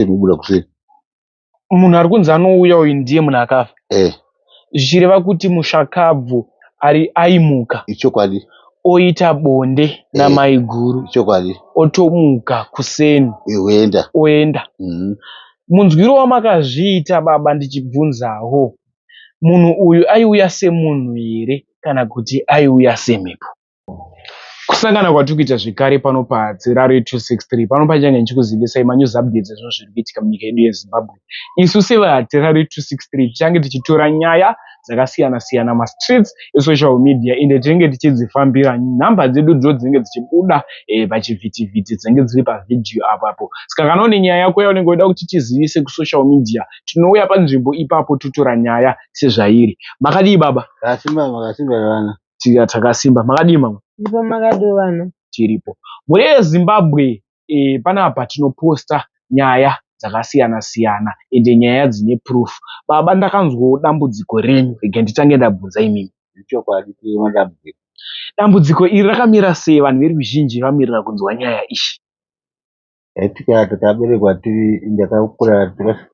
kuseni obuda kuseni munhu ari kunzi anouya uyu ndiye munhu akafa eh. zvichireva eh. kuti mushakabvu ari aimuka ichokwadi oita bonde eh. namaiguru ichokwadi otomuka kuseni oenda oenda mm -hmm. munzwiro wamakazviita baba ndichibvunzawo munhu uyu aiuya semunhu here kana kuti aiuya semhepo Kusangana kwatiri kuita zvekare pano paZerario 263 pano pachange ndichikuzivisai manews updates ezvinhu zviri kuitika munyika yedu yeZimbabwe. Isu sevaZerario 263 tichange tichitora nyaya dzakasiyana siyana mastreets esocial media ende tinenge tichidzifambira nhamba dzedu dzo dzinenge dzichibuda eh, pachivhitivhiti dzinenge dziri pavhidhiyo apapo. Saka kana une nyaya yako yaunenge uida kuti tizivise kusocial media tinouya panzvimbo ipapo totora nyaya sezvairi. Makadii baba? Kasimba makasimba vana. Tika takasimba. Makadii mama? Ndipo makadii vana? Tiripo. Mhuri yeZimbabwe eh, panapa tinoposta nyaya dzakasiyana siyana ende nyaya dzine proof. Baba ndakanzwawo dambudziko renyu regai nditange ndabvunza imimi. Ichokwadi tiri madambudziko. Dambudziko iri rakamira sei vanhu veruzhinji vamirira kunzwa nyaya ishi. Yatika takaberekwa tiri ndakakura tika-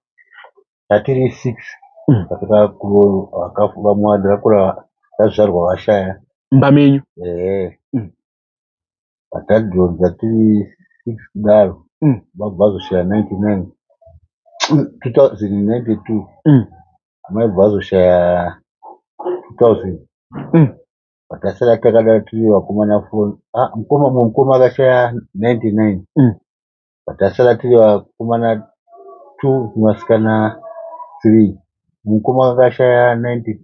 tatiri six Mm. vamwe ndakakura tazvarwa vashaya mbamenyu ehe Mm. batadhoni tatiri six kudaro Mm. baba vazoshaya 99 2092 Mm. amai baba vazoshaya 2000 Mm. patasara takadaro tiri vakomana four ah, mukoma mumwe mukoma akashaya 99 Mm. patasara tiri vakomana two nevasikana three mukoma akashaya 90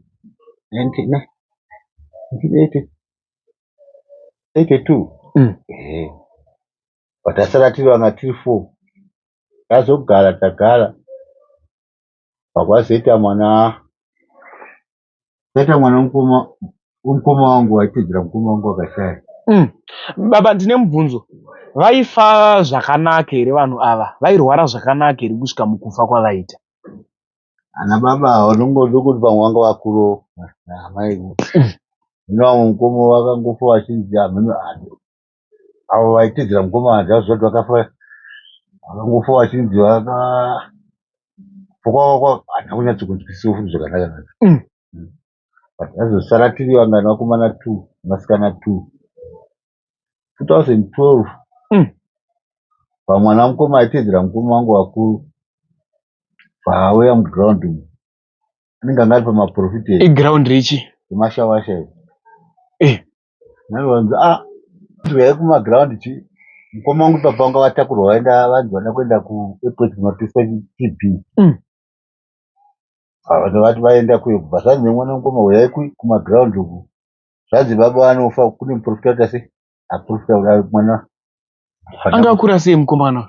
90 ne- 1980 82 Mm. ehe patasara tiri vanga tiri four tazogara tagara pakwazoita mwana Kaita mwana wemukoma wemukoma wangu waitedzera mukoma wangu akashaya. Mm. Baba ndine mubvunzo. Vaifa zvakanaka here vanhu ava? Vairwara zvakanaka here kusvika mukufa kwavaita? Ana baba ava ndongozokuti pamwe vanga vakuro amai. Hino vamwe mukoma vakangofa vachinzi hameno avo vaitedzera mukomana zvazvo zvati vakafa vakangofa vachinzi vaka fokwavakwa hatina kunyatso kunzwisiwo futi zvakanaka naka mm. mm. but vazosara tiri vangani vakomana two vasikana two 2012 mm. pamwana mukoma aitedzera mukoma wangu vakuru paauya muground umu anenge anga ari pamaprofit eground richi emashawasha eh. Naivanzi ah tuya kuma ground chi mukoma wangu papa vanga vatakurwa vaenda vanzi vada kuenda ku airport kunotesta TB. Mm. Vanhu vati vaenda kuyo kubva zvanzi nemwana mukoma huyai ku- kuma ground uku. Zvanzi baba vanofa kune muprofita wati ase aprofita kuda mwana. anga akura sei mukomana uyu?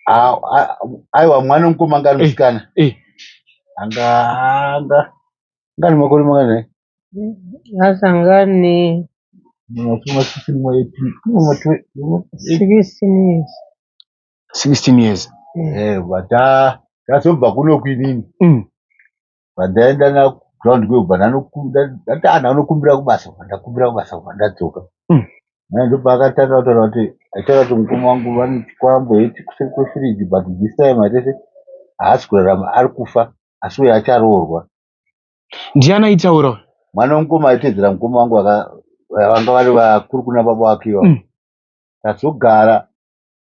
Ah, ah, aiwa mwana mukoma anga ari Eh. musikana. Eh. Anga anga anga ane makore mangani. asangane Mwafunga 16 mwa AP. Kune mwa twe- mwa- 16 years 16 years Mm. Eh, vata tatobva kuno kwinini Mm. vandaenda na ground kwekubva ndatana anokumbira kubasa kubva ndakumbira kubasa kubva ndadzoka Mm. naye ndopaakatanga kutaura kuti aitaura kuti mukoma wangu vanoti kwambo heti kuseri kwefiriji but this time atese haasi kurarama ari kufa asi uye acharoorwa ndiani aitaura uyu mwana wemukoma aitedzera mukoma wangu vanga vari vakuru kuna baba wake iva mm. tazogara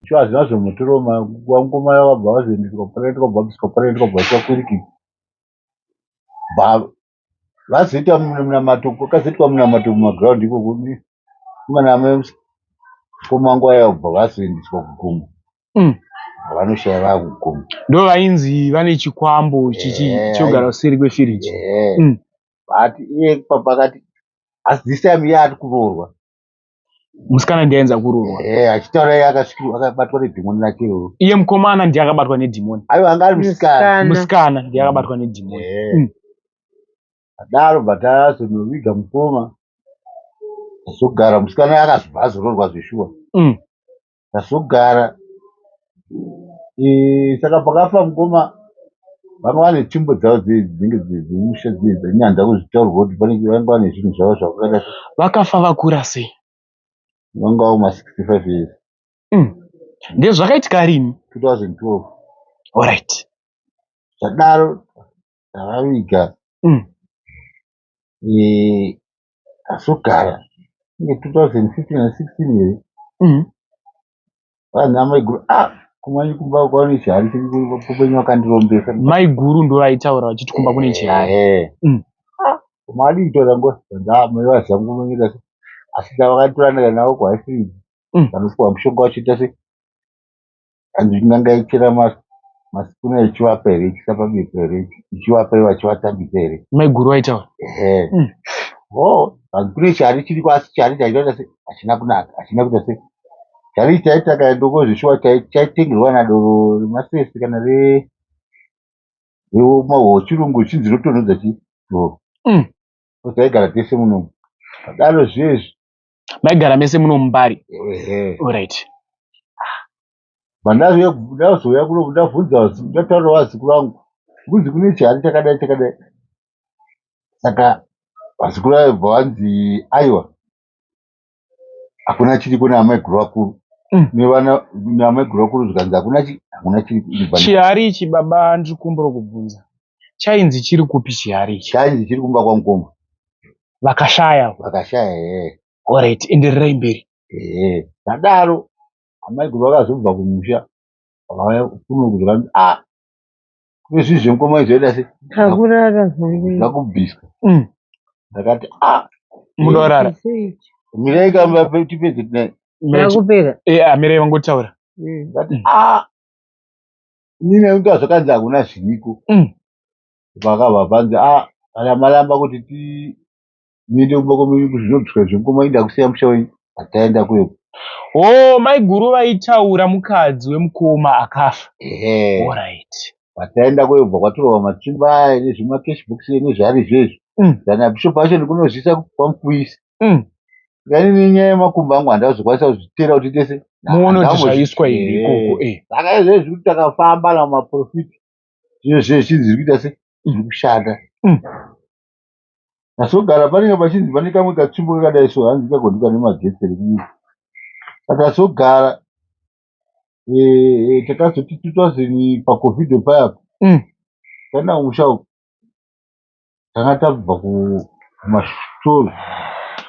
shuwa hazvina zvomutiroma wamukoma yavabva vazoendeswa panoita kwabhabiswa panoita kwabhabiswa kwiriki vazoita munamato kwakazoitwa munamato mumagiraundi ikoko mwana amai mukoma wangu ayabva vazoendeswa kugomo mm. vanoshaya vakuguma ndo vainzi vane chikwambo chichi yeah. chogara kuseri kwefiriji yeah. mm. but iye papakati asi this time iye ati kuroorwa musikana ndiye ainza kuroorwa yeah, achitaura iye akasvikirwa akabatwa nedhimoni rake iroro iye mukomana ndiye akabatwa nedhimoni aiwa anga ari musikana musikana ndiye akabatwa nedhimoni yeah. mm. adaro but azonoviga mukoma azogara musikana akazobva azororwa zveshuwa mm. Ndazogara eh, saka pakafa mukoma vanga vane tsvimbo dzavo dzinenge dzemusha dzinenge dzanyandza kuzvitaurwa kuti panenge vanga vane zvinhu zvavo zvakakada vakafa vakura sei vangawo ma 65 years mm. ndezvakaitika rini 2012 orit zvadaro tavaviga mm. eh, asogara inge 2015 na 16 here mm. vanhu amaiguru ah kumanye kumba kwaune chihari chekupenyu wakandirombesa maiguru ndo vaitaura vachiti kumba kune chihari eh, mm. ah, mali itora ngo ndamai vazangu manyika asi ndavakatorana navo kwaisii mm. vanopiwa mushonga vachiita se Hanzi inga ndaichera masikuna ichivapa here ichisa pabiko here ichivapa ivo achivatambisa here maiguru vaitaura ehe mm. o oh, hanzi kune chari chiriko asi chari chaitaita se hachina kunaka hachina kuita se chari chaita kana ndokozvishuwa chaitengerwa nadoro remasese kana re rechirungu chinzi rotonhodza chi doro mm. osaigara tese munomu padaro zviye izvi maigara mese muno mubari orit ndazouya kuno ndabvunza ndataura vaziku vangu kunzi kune chihari chakadai chakadai saka vaziku vayo bva vanzi aiwa hakuna chiriko naamaiguru vakuru mm. nevana naamaiguru vakuru zvikanzi hakuna hakuna chiriko chihari ichi baba ndiri kumbura kubvunza chainzi chiri kupi chihari ichi chainzi chiri kumba kwamukoma vakashaya vakashaya ee orit endererai mberi ee zvadaro amaiguru vakazobva kumusha vakauya kuno kuzvika a ah, kune zvinhu zvemukoma izvoida se akurara zvakubviswa mm. ndakati a ah, munorara mirai kamba tipedze tinai akupera ee eh, amirai ah, vangotaura mm. ndati a Inini nekuti zvakanzi hakuna zviriko mm. pakabva panzi a ah, kana maramba kuti ti muende kumba kwemunyu kuzvinobviswa zvemukoma inda kusiya musha wenyu hataenda kweko o oh, maiguru vaitaura mukadzi wemukoma akafa orit pataenda kweyo bva kwatorova matsimba aya nezvemacash box nezvaari zvezvo mm. kana bishop acho ndikunozvisa kwamukuisa umm Saka ini nenyaya yemakumbo angu handina kuzokwanisa kuzviteera kuti tese muonoti zvaiswa here ikoko eh. saka izvezvi zviri kuti takafamba namaprofiti zvino zviye zvinzi zviri kuita se mm. zviri kushanda mm. tasogara panenge pachinzi pane kamwe katsvimbo kakadai so hanzi kagondiwa nemagetsi rekuita patasogara eh, eh, takazoti 2000 pacovid payapo mm. tana kumusha uku tanga tabva kumashows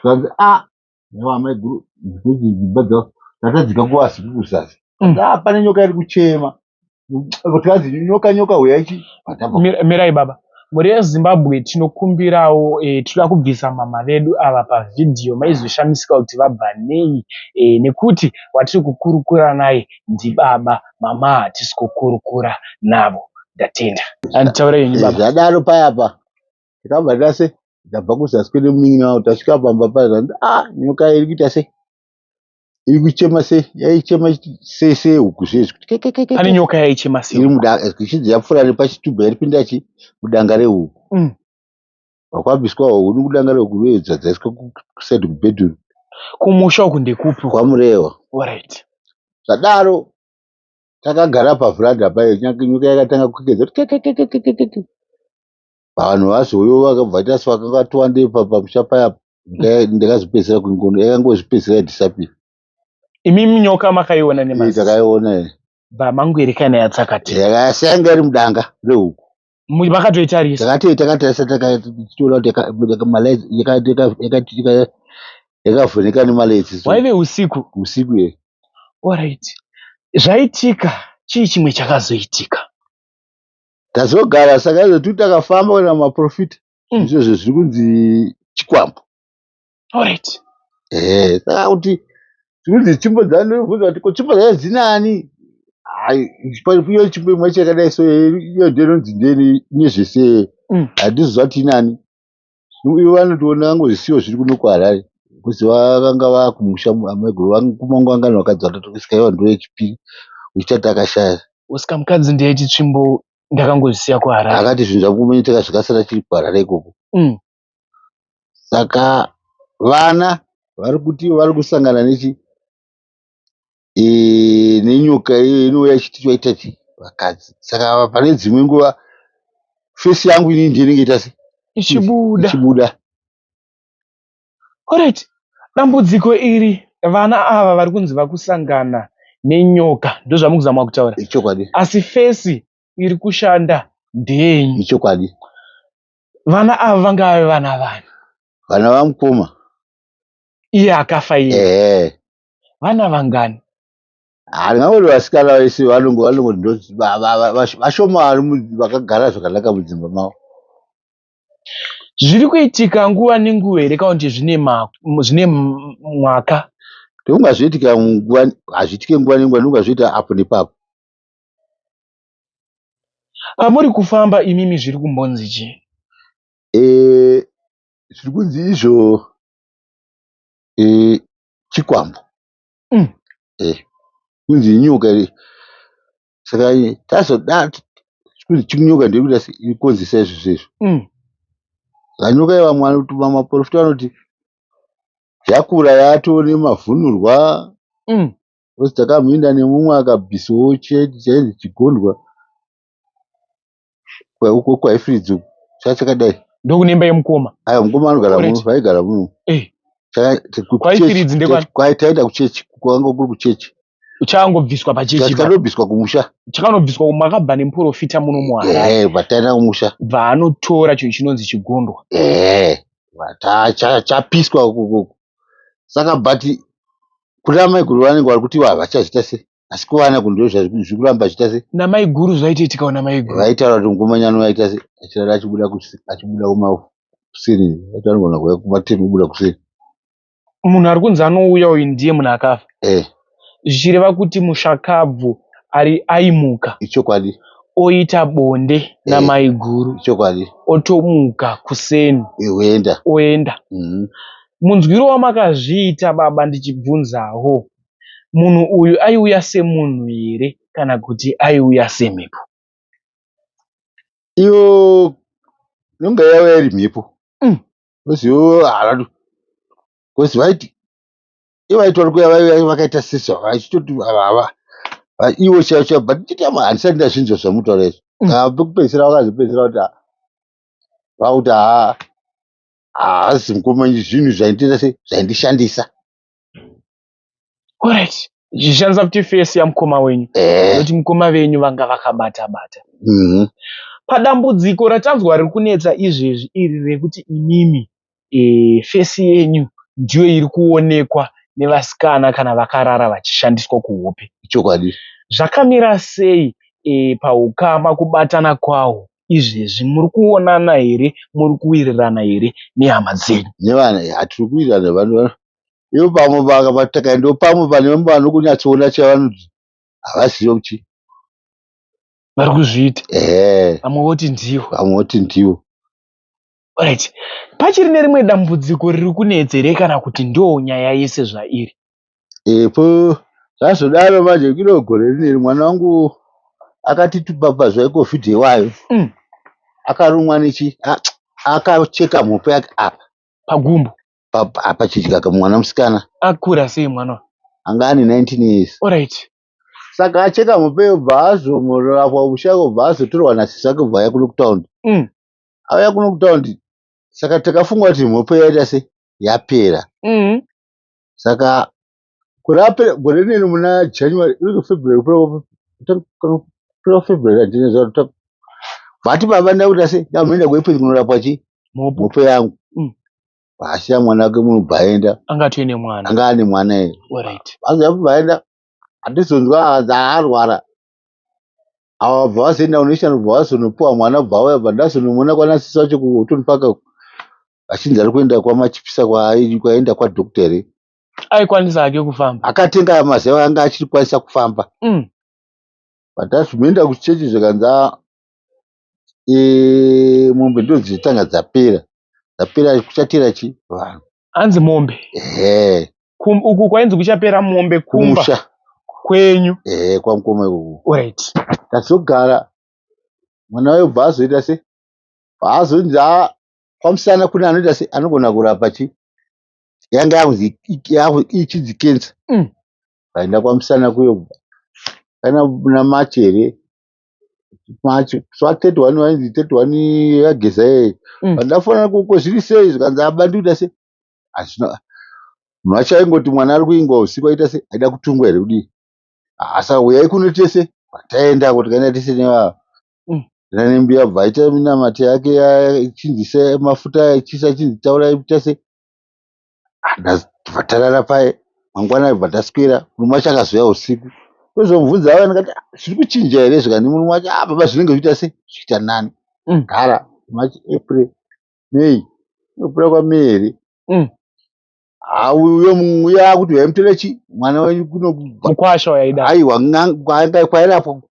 zvikanzi a ah, yava amaiguru ndikuti dzimba dzavo tatadzika kuvasi kuzasi mm. a ah, pane nyoka iri kuchema tikanzi nyoka nyoka huyaichi mirai baba mhuri yezimbabwe tinokumbirawo e, tinoda kubvisa mama vedu ava pavhidhiyo maizoshamisika kuti vabva nei e, nekuti watiri kukurukura naye ndibaba mama hatisi kukurukura navo ndatenda anditaure ini baba zvadaro paya pa takabva tase ndabva kuzasi kwene munin'ina wavo tasvika pamba paya zvanzi ah nyoka iri kuita sei iri kuchema sei yaichema sei sei huku zvezvi kuti kekekeke ane nyoka yaichema sei iri mudanga ichidzi yapfuura nepachitubu yaipinda chi mudanga rehuku Mm. Kwakabviswa huni kudanga rekuveedza dzaiswa kuside kubedroom. Kumusha uku ndekupi? KwaMurehwa. Alright. Zvadaro takagara paveranda payo nyika yakatanga kukedza kuti vanhu vazoyo vakabva vaita sevakanga vatowandei pamusha paya ndakazopedzisira kungono yakangozvipedzisira yadhisapira imimi nyoka makaiona nemaziso takaiona bva mangwirikana yatsakati yakasanga iri mudanga rehuku makatoitarisa takati takatarisa takatoona kuti yakavhurika nemaledzi waive usiku usiku ye orit zvaitika chii chimwe chakazoitika tazogara saka zvotu takafamba kuenda kumaprofita mm. izvozvo zviri kunzi chikwambo Alright. Eh, saka kuti zvinonzi tsvimbo dzani ndobvunza kuti ko tsvimbo dzayo dzinani? Hai, pariyo tsvimbo imwe yacho yakadai so iyo ndiyo inonzi ndeni ine zvese Mm. handizoziva kuti inani. Ivo vanotoona vangozvisiwa zviri kuno kuHarare. Because vakanga vakumusha amaiguru vangu kumangu vangani vakadzi vatotokisika iva ndiyo yechipiri uchitati akashaya. Oscar mukadzi ndiye chitsvimbo ndakangozvisiya kuHarare. Akati zvinhu zvakumeneteka zvikasara chiri kuHarare ikoko. Mm. saka vana varikuti varikusangana nenyoka iyo inouya ichiti toita sei vakadzi saka apa pane dzimwe nguva face yangu inini ndiyo inenge ichiita sei ichibuda ichibuda alright dambudziko iri vana ava varikunzi vakusangana nenyoka ndozvamukuzama kutaura ichokwadi asi face irikushanda ndeyenyu ichokwadi vana ava vanga vave vana vani vana vamukoma iye akafa iye ehe vana vangani handingangoti vasikana vese vanongo vanongo ndoti va- va- va- vash- vashoma vari mu- vakagara zvakanaka mudzimba mavo zviri kuitika nguva nenguva here kana kuti zvine ma- m- zvine m- mwaka ndokungazviitika nguva hazviitike nguva nenguva ndokungazviita apo nepapo Pamuri kufamba imimi zviri kumbonzi chii? Eh zviri kunzi izvo eh chikwambo. Mm. Eh kunzi inyoka iri. Saka tazoda kunzi chinyoka ndekuita ikonzesa izvo zvezvo. Mm. Vanyoka ivamwe maporofita vanoti yakura yatone mavhunurwa. Mm. coz takamhinda nemumwe akabvisawo chaizi chigondwa uko kwaifridge uko chachakadai ndokune imba yemukoma aya mukoma anogara muno vaigara muno eh. kwaifiridzi ndekwaitaenda kuchechi kwanga kuri kuchechi chakangobviswa pachechi chakanobviswa kumusha chakanobviswa makabva nemuprofita muno muharare eh, vataenda kumusha bvaanotora chinhu chinonzi chigondwa eh, chapiswa ukoko saka but kuna maiguru vanenge vari kuti havachazviita se asi kuvana ku ndoo zviri kuramba zviita se namaiguru zvaitaiitikawo namaiguru vaitaura kuti ngomanyano vaita se achirara achibuda achibuda kumakuseni vaita vanogona kuuya kumateni kubuda kuseni munhu ari kunzi anouya uyu ndiye munhu akafa eh zvichireva kuti mushakabvu ari aimuka ichokwadi oita bonde eh, namaiguru ichokwadi otomuka kuseni oenda eh, oenda mm -hmm. munzwiro wamakazviita baba ndichibvunzawo munhu uyu aiuya semunhu here kana kuti aiuya semhepo iyo inonga yauya iri mhepo mm. oziwo haradu bcause vaiti ivo vaitori kuya vaive vakaita sisi vava vachitoti vava ivo chaivo chaivo but nditama handisati ndazvinzwa zvamutaura izvo mm. ah, pekupedzisira vakazopedzisira kuti ah, vakuti haa haazi mukoma zvinhu zvaindiita sei zvaindishandisa orit zvichishandisa kuti fesi yamukoma wenyu nekuti eh. mukoma venyu vanga vakabata bata mhm. padambudziko ratanzwa riri kunetsa izvezvi iri rekuti imimi face yenyu ndiyo iri kuonekwa nevasikana kana vakarara vachishandiswa kuhope. Ichokwadi. Zvakamira sei pahukama kubatana kwahwo izvezvi? Muri kuonana here? Muri kuwirirana here nehama dzenyu? Nevana here? Hatiri kuwirirana nevanhu. Ivo pamwe vakatakaenda ndopamwe pane vamwe vanokunyatsoona chavanoti havazive kuti vari kuzviita. Ehe. Vamwe voti ndivo. Vamwe voti ndivo. Alright. Pachiri nerimwe dambudziko riri kunetse here kana kuti ndoo nyaya yese zvairi? Epo zvazodaro manje kino gore rineri mwana wangu akati tupapa zveCovid iwayo. Mm. Akarumwa nechi a- akacheka mhope yake apa Pagumbo. pa- pa- pachidya kamwana musikana Akura sei mwana uyu? anga ane 19 years. Alright. Saka acheka mhope yobva azomororafwa musha obva azotorwa nasisi wake obva auya kuno kutown. Mm. auya kuno kutaundi saka takafunga kuti mhopo yaita se yapera mm. saka gore apera gore rineri muna january iri february kupera february andinezaa vati baba nda kuita se ndamboenda kuepesi kunorapwa chii mhopo yangu mm. vaasiya mwana wake munhu bvaenda anga atoine mwana anga ane mwana ere vazoya kubvaenda handizonzwa hanzi aarwara ava vabva vazoenda kunoishana kubva vazonopiwa mwana kubva auya bva ndazonomona kwana sisi vacho kuhotoni paka achinzi ari kuenda kwamachipisa kwaenda kwadoctor here aikwanisa hake kufamba akatenga maziva anga achiri kwanisa kufamba mm. patazvimoenda kuchechi zvikanzi ah, e, mombe ndodzitanga dzapera dzapera kuchatera chi vanhu Hanzi mombe. Ehe. Kum, uku kwainzi kuchapera mombe kumba. Kusha. Kwenyu. Ehe kwamukoma ikoko. Alright. Tazogara mwana wayo bva azoita se paazonzi a kwamusana kune anoita se anogona kurapa chi yanga yakunzi ichinzi kensa. Mm. Vaenda kwamusana kuyo kana namati here yageza iyeyo but ndafonera kuti ko zviri sei zvikanzi baba ndiri kuita sei hazvina mhacha aingoti mwana ari kuingwa usiku aita sei aida kutungwa here kudii asa huyai kuno tese taendako tikaenda tese nevava enda nembiya bva aita minamato yake ichinzi se mafuta aya chisa chinzi taurai ita sei Takabva tarara paye mangwana takabva taswera murume wacho akazouya husiku ndozomubvunza waya ndikati "Ah, zviri kuchinja here izvi kani murume wacho "Ah, baba zvinenge zviita sei zviita nani "Mm, gara march april may nokupera kwamei here Mm. Ah, uyo mu- uyo akuti vaimutera chii mwana wenyu kunokubva mukwasha wayaida aiwa n'anga- kwanga- kwairapwa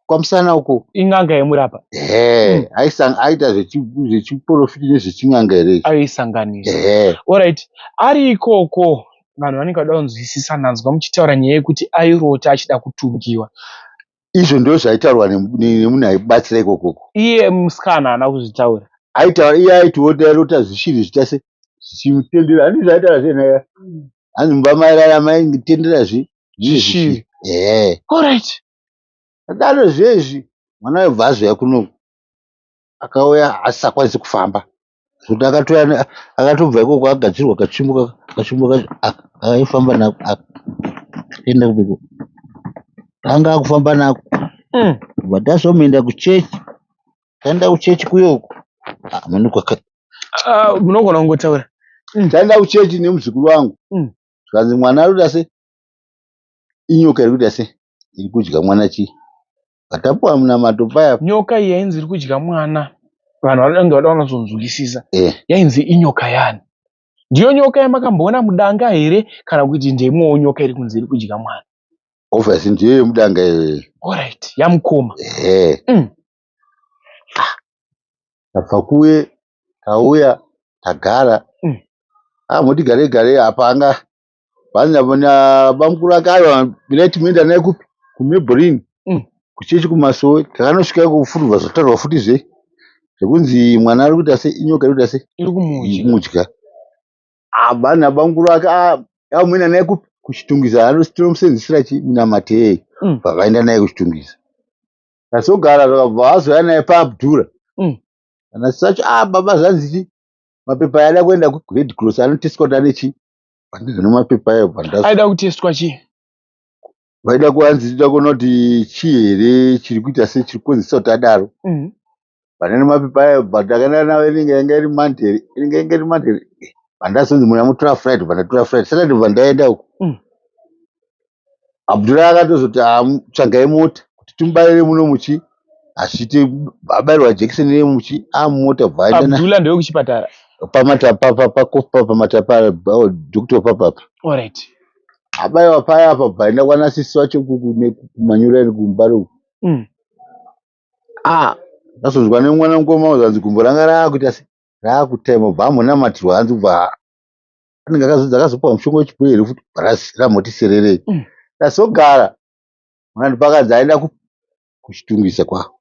kwamusana uko in'anga yemurapa ehe mm. aisanga aita zvechiporofiti nezvechin'anga here aisanganisa ehe orit ari ikoko vanhu vanenge vada kunzwisisa ndanzwa muchitaura nyaya yekuti airota achida kutungiwa izvo ndo zvaitaurwa nemunhu aibatsira ikokoko iye musikana haana kuzvitaura aitaura iye aitiota airota zvishinhu zvichase zvichimutendera handi zvaitaura zvenaya hanzi mumba mairara maitendera zvi zvishiri ehe orit Ndakadaro zviye izvi mwana aibva azouya kuno akauya asisakwanisi kufamba zvekuti akatouya ne- akatobva ikoko agadzirwa kachimbo ka- kachimbo kacho aka akaifamba nako aka akaenda kubeko anga akufamba nako Mm. kubva tazomuenda kuchechi taenda kuchechi kuyoko Ah, mani kwaka- Ah, munogona kungotaura taenda kuchechi nemuzukuru wangu Mm. zvikanzi mwana arikuita se inyoka iri kuita se Iri kudya mwana chii? Patapiwa munamato paya. Nyoka iyi yainzi iri kudya mwana vanhu vanenge vada kunyatsonzwisisa eh. Yainzi inyoka yani? Ndiyo nyoka yamakamboona mudanga here kana kuti ndeimwewo nyoka iri kunzi iri kudya mwana? Obviously ndiyo yemudanga iyoyo. Alright, yamukoma. Eh. Mm. Ah. Tabva kuye tauya tagara. Mm. Ah, motigare gare apa anga Vana vana bamkuru vakaiwa bila timoenda naye kupi kumebrini Mm. kuchechi kumasowe takanosvika kufurwa zvotaurwa futi zve zvekunzi mwana ari kuita se inyoka iri kuita se iri kumudya mudya vana bamkuru vake ah, amuenda naye kupi kuchitungwiza ano- tinomusenzesera chi munamatei Mm. vakaenda naye kuchitungwiza tasogara zvakabva vazouya naye paabdura Mm. kana sacho ah baba zvanzi chi mapepa yaada kuenda kured cross anoteswa kuti ane chi handizi nemapepa ayo bvanda aida kutestwa chii vaida kuanzi tida kuona kuti chii here chiri kuita se chiri kukonzesa kuti adaro mm. pane nemapepa ayo but akaenda navo inenge yanga iri monday inenge yanga iri monday bvandazonzi muna mutora friday bvandatora friday saturday bvandaenda uku mm. Abdul akatozoti ah, tsvagai mota kuti timubaire muno muchi achiti abairwa jekiseni yemuchi amota ah, bvaendana Abdul ndewe kuchipatara pamatapa pakofa pamatapa doctor papapa all right abaiwa paya apa bvaenda kwana sisi wacho kumanyura kumba ro mm. ah ndazonzwa nemwana mukoma uzanzi gumbo ranga raakuita se raakutema bva amonamatirwa hanzi bva anenge akazodza akazopiwa mushonga wechipwere futi ramoti sererei mm. tasogara mwanandi pakadzi aenda kuchitungisa kwavo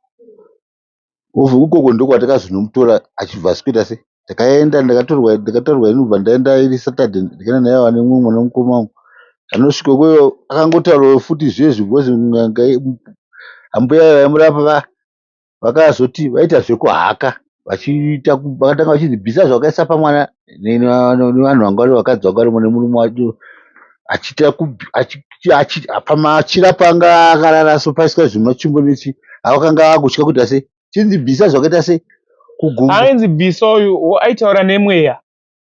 obva ikoko ndokwatakazonomutora achibva asikuita se ndakaenda ndakatorwa ndakatorwa inobva ndaenda iri saturday ndikaenda naye wane mumwe mwana mukoma wangu anosvika kweyo akangotaurawo futi zviye zvibhozi ambuya vaimurapa va vakazoti vaita zvekuhaka vachiita vakatanga vachinzi bvisa zvawakaisa pamwana nevanhu vanga vari vakadzi vanga varimo nemurume wacho achiita pamachira panga akarara so paiswa zvimachimbo nechi avakanga vakutya kuita sei chinzi bvisa zvakaita sei kugumbu ainzi bvisa uyu aitaura nemweya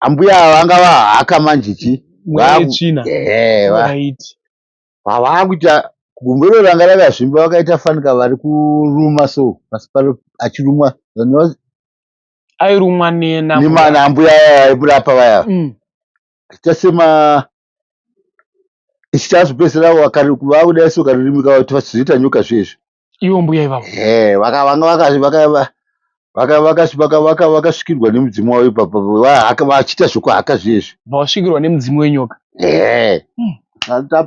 ambuya vanga vahaka manje chii mweya yetsvina ehe vaiti pavakuita gumboro ranga rakazvimba vakaita fanika vari kuruma so pasi paro achirumwa airumwa nemana ambuya aya aimurapa vaya mm. achiita sema ichitazopedzisira vakuda iso karurimi kavo kuti vachizoita nyoka zviye izvi ivo mbuya ivavo eh, vakasvikirwa nemudzimu wavo ipapo vachiita zvekuhaka zviezvi vasvikirwa nemudzimu wenyoka eh. hmm.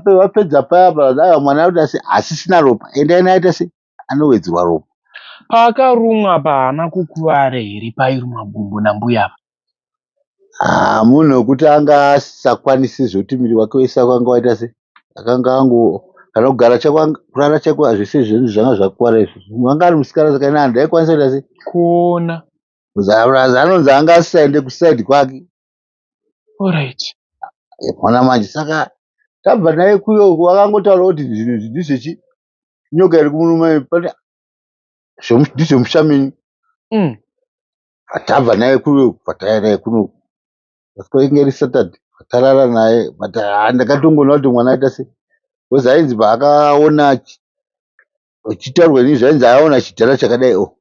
vapedza paya paa mwana aita se asisina ropa ende aina aita se anowedzerwa ropa paakarumwa paana kukuvara here pairumwa gumbo nambuya ava Haa munhu wekuti anga asisakwanisi zvekuti muviri wake wese wanga waita sei akanga ango kana kugara chako kurara chaiko zvese zvinhu zvanga zvakuwara izvi munhu anga ari musikana saka ini handai kwanisa kuita sei kuona plus anonzi anga asisaende kuside kwake alright mona manje saka tabva naye kuyo wakangotaura kuti zvinhu izvi ndizvechi nyoka iri kumurume pane ndizvemusha menyu mm. Tabva naye kuno pataya naye kuno kwainge iri Saturday patarara naye but ah, ndakatongoona kuti mwana aita se because ainzi paakaona achi- achitaurwa inini zvainzi aona chidhara chakadai o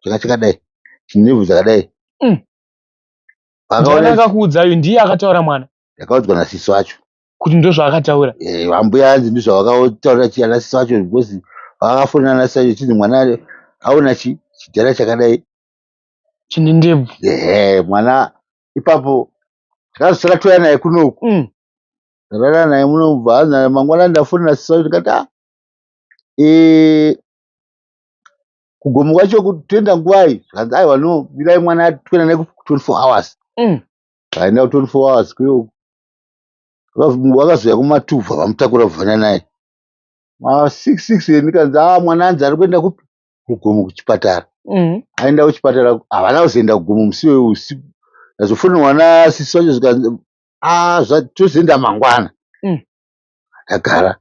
changa chakadai chinevhu dzakadai Mm. paakaona Mwana akakuudza uyu ndiye akataura mwana ndakaudzwa nasiso acho kuti ndozvaakataura. Eh, vambuya anzi ndizvo vakataura chi anasisi vacho because vakafona anasisi vacho chinzi mwana aona chi chidhara chakadai chine ndebvu ehe mwana ipapo tikazi takatouya naye kunoku mm. ndakada naye muno bva mangwana ndafonera sisa ndikati a ah, e, kugomo kwacho kutoenda nguvai zvikanzi aiwa no birai mwana toenda naye ku24 hours mm. aenda ku24 hours kuyoku vakazouya kumatuvha vamutakura kuvhana naye ma66 ndikanzi a ah, mwana anzi ari kuenda kupi kugomo kuchipatara mm. aenda kuchipatara havana kuzoenda kugomo musi weu usiku ndazofonerwa nasisi vacho zvikanzi ah, tozoenda mangwana mm. ndagara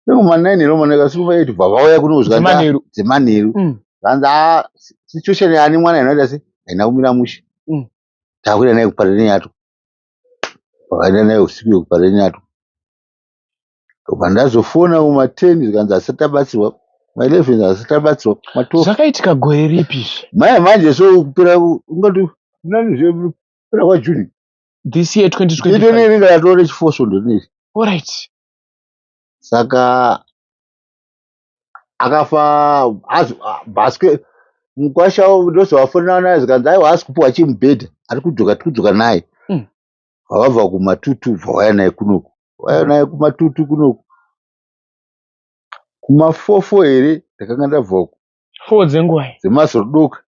nekumanaini ero maneka siku vaiti bva vauya kuno zvikanzi dzemanheru mm. zvanzi ah, situation yaani mwana inoita se haina kumira mushe takuenda naye kuparere nyato vakaenda naye usiku yekuparere nyato ndobva ndazofona kuma 10 zvikanzi asati abatsirwa kuma 11 zvikanzi asati abatsirwa kuma 12 zvakaitika gore ripi izvi maya manje so kupera ungati nani zve kupera kwajuni this year 2025 ito neringa ratova rechifoso ndonei alright saka akafa bhaske mukwasha ndozovafonera naye zvikanzi aiwa asi kupiwa chimubhedha ari kudzoka tiri kudzoka naye mm. Wabva kumatutu wobva wauya naye kunoku. Wauya naye kumatutu kunoku. Kumafoo foo here ndakanga ndabva uku. Foo dzenguvai? Dzemazodoka.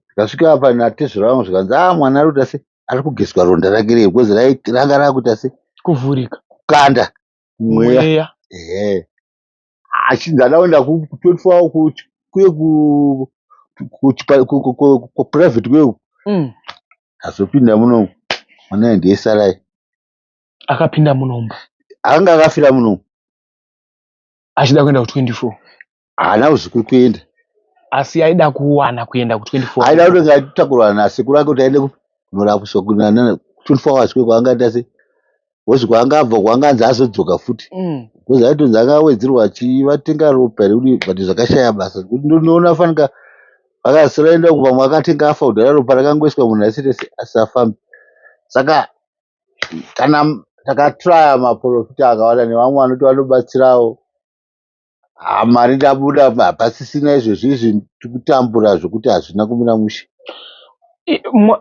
Ndikasvika apa natezvara vangu zvikanzi ah mwana arikuita sei? Arikugezwa ronda rake riye because ranga rakuita sei? Kuvhurika. Kukanda mweya. Ehe. asi ndada kuenda kutotwawo kuye kuprivate kuye uku mm. azopinda muno mwana ndiye sarai akapinda munomba anga akafira muno achida kuenda ku 24 haana kuzikuri kuenda asi aida kuwana kuenda ku 24 aida kuti ngatakurwa nasekuru ake kuti aende kunorapiswa kunana 24 hours kwekwaanga tase Because kwaangabva kwaanganzi azodzoka futi. Mm. Because aitonzi akawedzerwa achivatenga ropa here kudii but zvakashaya basa. Kuti ndinoona fanika akasara enda uko pamwe akatenga afa kudhara ropa rakangoiswa munhu asiri asafambi. Saka kana m- takatraya maporofita akawanda nevamwe vanoti vanobatsirawo Haa mari ndabuda hapasisina izvezvi izvi tikutambura zvekuti hazvina kumira mushe.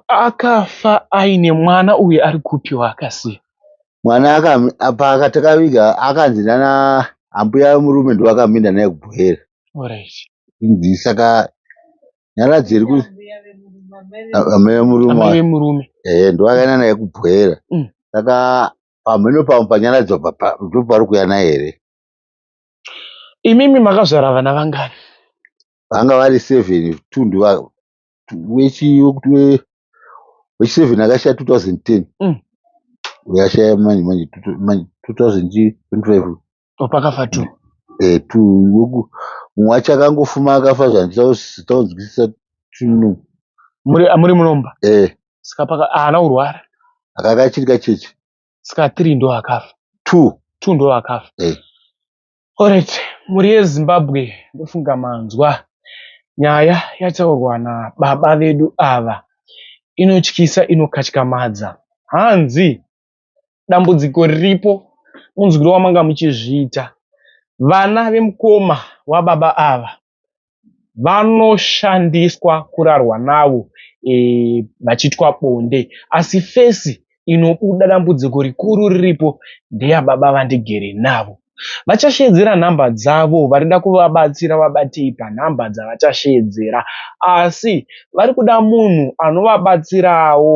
Akafa aine mwana uye ari kupi waakasiya? Mwana paakatakaviga akanzi nana ambuya murume ndovakaminda naye kubhoera. Alright. Inzi saka nyaradzi iri kuti amai vemurume. Amai vemurume. Eh ndovakaenda naye kubhoera. Mm. Saka pamheno pamwe panyaradzi ndopari kuya naye here? Imimi makazvara vana vangani? Vanga vari seven tundu wechi wekuti wechi seven akashaya 2010 mm. uyashaya manje manje 2025 opakafa two eh two weku mwacha kangofuma akafa zvanditaunzwisisa tunu muri muri munomba eh saka paka ana urwara akakachirika chechi ska three ndo akafa two two ndo akafa hey. orit mhuri yezimbabwe ndofunga manzwa nyaya yataurwa nababa vedu ava inotyisa inokatyamadza hanzi dambudziko riripo munzwiro wamanga muchizviita vana vemukoma wababa ava vanoshandiswa kurarwa navo e, vachiitwa bonde asi fesi inobuda dambudziko rikuru riripo ndeya baba vandigere navo vachasheedzera nhamba dzavo varida kuvabatsira vabatei panhamba dzavachasheedzera asi vari kuda munhu anovabatsirawo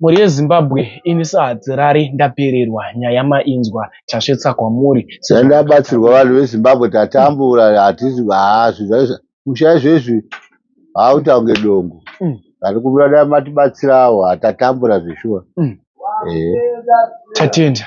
Mhuri yeZimbabwe ini sahadzirari ndapererwa nyaya mainzwa tasvetsa kwamuri sezvo Ndabatsirwa vanhu veZimbabwe tatambura hatizi hazvi zvaizva musha izvezvi hautaunge dongo Mm. vari kubuda dai matibatsirawo hatatambura zveshuwa Mm. ehe tatenda